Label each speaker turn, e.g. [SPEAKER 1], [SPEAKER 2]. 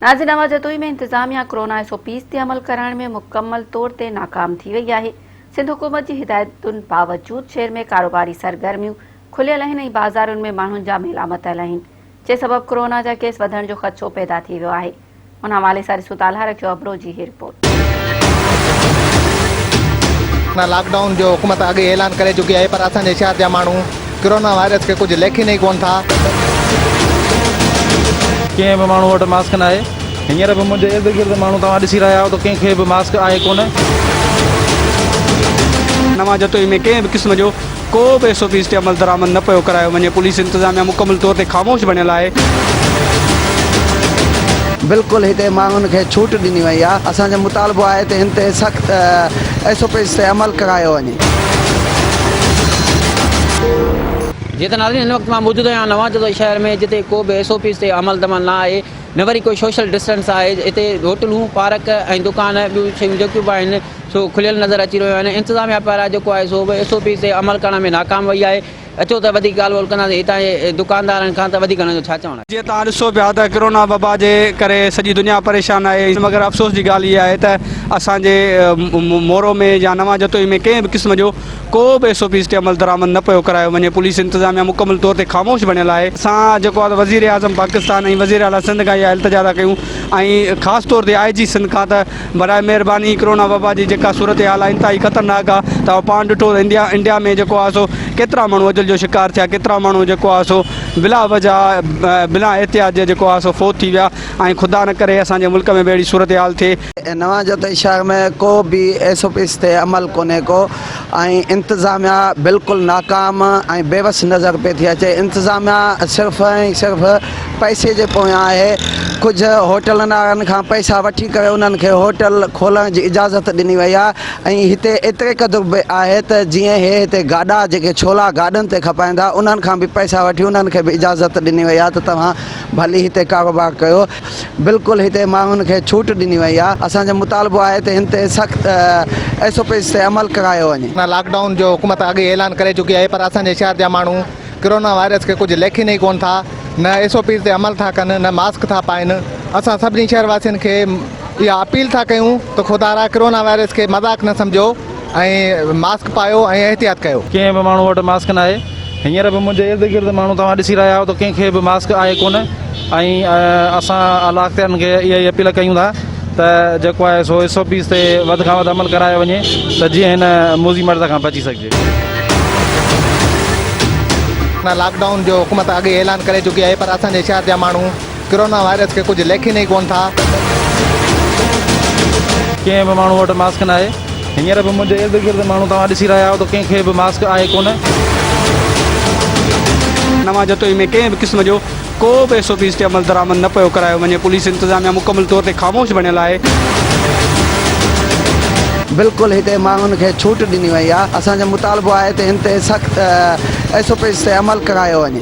[SPEAKER 1] ناظر نواز جتوئي ۾ انتظاميا corona S O Ps تي عمل ڪرائڻ ۾ مڪمل طور تي ناڪام ٿي وئي آهي، سنڌ حڪومت جي هدايتن باوجود شهر ۾ ڪاروباري سرگرميون کليل آهن ۽ بازارن ۾ ماڻهن جا ميلا متل آهن، جنهن سبب ڪرونا جا ڪيس وڌڻ جو خدشو پيدا ٿي ويو آهي، ان حوالي سان ڏسون ته الهه رکيو ابڙو جي هي رپورٽ.
[SPEAKER 2] لاڪ ڊائون جو حڪومت اڳ ئي اعلان ڪري چڪي آهي پر اسان جي شهر جا ماڻهو ڪرونا وائرس کي ڪجهه ليکين ئي ڪونه ٿا.
[SPEAKER 3] ڪنهن به ماڻهو وٽ ماسڪ ناهي هينئر به منهنجي ارد گرد ماڻهو توهان ڏسي رهيا آهيو ته ڪنهن کي به ماسڪ آهي ڪونه.
[SPEAKER 4] نوان جتوئي ۾ ڪنهن به قسم جو ڪو به ايس او پيز تي عملدرآمد نه پيو ڪرايو وڃي، پوليس انتظاميا مڪمل طور تي خاموش بڻيل آهي.
[SPEAKER 5] بلڪل هتي ماڻهن کي ڇوٽ ڏني وئي آهي، اسان جو مطالبو آهي ته هن تي سخت ايس او پيز تي عمل ڪرايو وڃي.
[SPEAKER 6] جيئن ته ناظرين هن وقت مان موجود آهيان نوان جزوي شهر ۾ جتي ڪو به ايس او پيز تي عمل دمل نه آهي نه وري ڪو شوشل ڊسٽنس آهي هتي هوٽلون، پارڪ ۽ دڪان ٻيون شيون جيڪيون به آهن، سو کليل نظر اچي رهيو آهي ۽ انتظاميا پاران جيڪو آهي سو به ايس او پي تي عمل ڪرڻ ۾ ناڪام وئي آهي اچو ته وڌيڪ ڳالهه ٻولهه ڪنداسين هتان جي دڪاندارن کان ته وڌيڪ هنن جو ڇا چوڻ آهي. جيئن توهان ڏسو پيا ته
[SPEAKER 4] ڪرونا وبا جي ڪري سڄي دنيا پريشان آهي مگر افسوس جي ڳالهه اها آهي ته اسان جي مورو ۾ يا نوان جتوئي ۾ ڪنهن به قسم جو ڪو به ايس او پيز تي عمل درآمد نه پيو ڪرايو وڃي پوليس انتظاميا مڪمل طور تي خاموش بڻيل آهي اسان جيڪو آهي وزير اعظم پاڪستان ۽ وزير اعليٰ سنڌ کان اها التجا ٿا ڪيون ۽ خاص طور تي آء جي سنڌ کان ته براء مهرباني ڪرونا وبا جي جيڪا صورتحال آهي انتهائي خطرناڪ آهي توهان پاڻ ڏٺو ته انڊيا انڊيا ۾ جيڪو آهي سو ڪيترا ماڻهو اجل جو شڪار ٿيا ڪيترا ماڻهو جيڪو آهي سو بلا وجه بنا احتياط جي جيڪو آهي سو فوت ٿي ويا ۽ خدا نه ڪري اسان جي ملڪ ۾ به اهڙي صورتحال ٿئي. هن وان چيو ته شهر
[SPEAKER 5] ۾ ڪو به ايس او پيز تي عمل ڪونهي ڪو ۽ انتظاميا بلڪل ناڪام ۽ بيوس نظر پئي ٿي اچي انتظاميا صرف ۽ صرف پئسي جي پويان آهي ڪجهه هوٽلن وارن کان پئسا وٺي ڪري انهن کي هوٽل کولڻ جي اجازت ڏني وئي آهي ۽ هتي ايتري قدر به آهي ته جيئن هي هتي گاڏا جيڪي ڇولا گاڏن تي کپائيندا انهن کان به پئسا وٺي انهن کي به اجازت ڏني وئي آهي ته توهان ڀلي هتي ڪاروبار ڪيو بلڪل هتي ماڻهن کي ڇوٽ ڏني وئي آهي اسان جو مطالبو آهي ته هن تي سخت ايس او پيز تي عمل ڪرايو وڃي. لاڪ ڊائون جو حڪومت
[SPEAKER 2] اڳ ئي اعلان ڪري چڪي آهي پر اسان جي شهر جا ماڻهو. ڪرونا وائرس کي ڪجهه ليکين ئي ڪونه ٿا، نه ايس او پيز تي عمل ٿا ڪن، نه ماسڪ ٿا پائن، اسان سڀني شهر واسين کي اها اپيل ٿا ڪيون ته خدارا ڪرونا وائرس کي مذاق نه سمجهو ۽ ماسڪ پايو ۽ احتياط ڪيو. ڪنهن به ماڻهو وٽ ماسڪ
[SPEAKER 3] ناهي، هينئر به منهنجي ارد گرد ماڻهو توهان ڏسي رهيا آهيو ته ڪنهن کي به ماسڪ آهي ڪونه ۽ اسان اعليٰ اختيارين کي اها ئي اپيل ڪيون ٿا ته جيڪو آهي سو ايس او پيز تي وڌ کان وڌ عمل ڪرايو وڃي ته جيئن هن موذي مرض کان بچي سگهجي.
[SPEAKER 2] لاڪ ڊائون جو حڪومت اڳ ئي اعلان ڪري چڪي آهي پر اسان جي شهر جا ماڻهو ڪرونا وائرس کي ڪجهه ليکين ئي ڪونه ٿا.
[SPEAKER 3] ڪنهن به ماڻهو وٽ ماسڪ ناهي هينئر به منهنجي ارد گرد ماڻهو توهان ڏسي رهيا آهيو ته ڪنهن کي به ماسڪ آهي ڪونه.
[SPEAKER 4] نه مان جتوئي ۾ ڪنهن به قسم جو ڪو به ايس او پيز تي عملدرآمد نه پيو ڪرايو وڃي، پوليس انتظاميا مڪمل طور تي خاموش بڻيل آهي.
[SPEAKER 5] بلڪل هتي ماڻهن کي ڇوٽ ڏني وئي آهي، اسان جو مطالبو آهي ته هن تي سخت ايس او پيز تي عمل ڪرايو وڃي.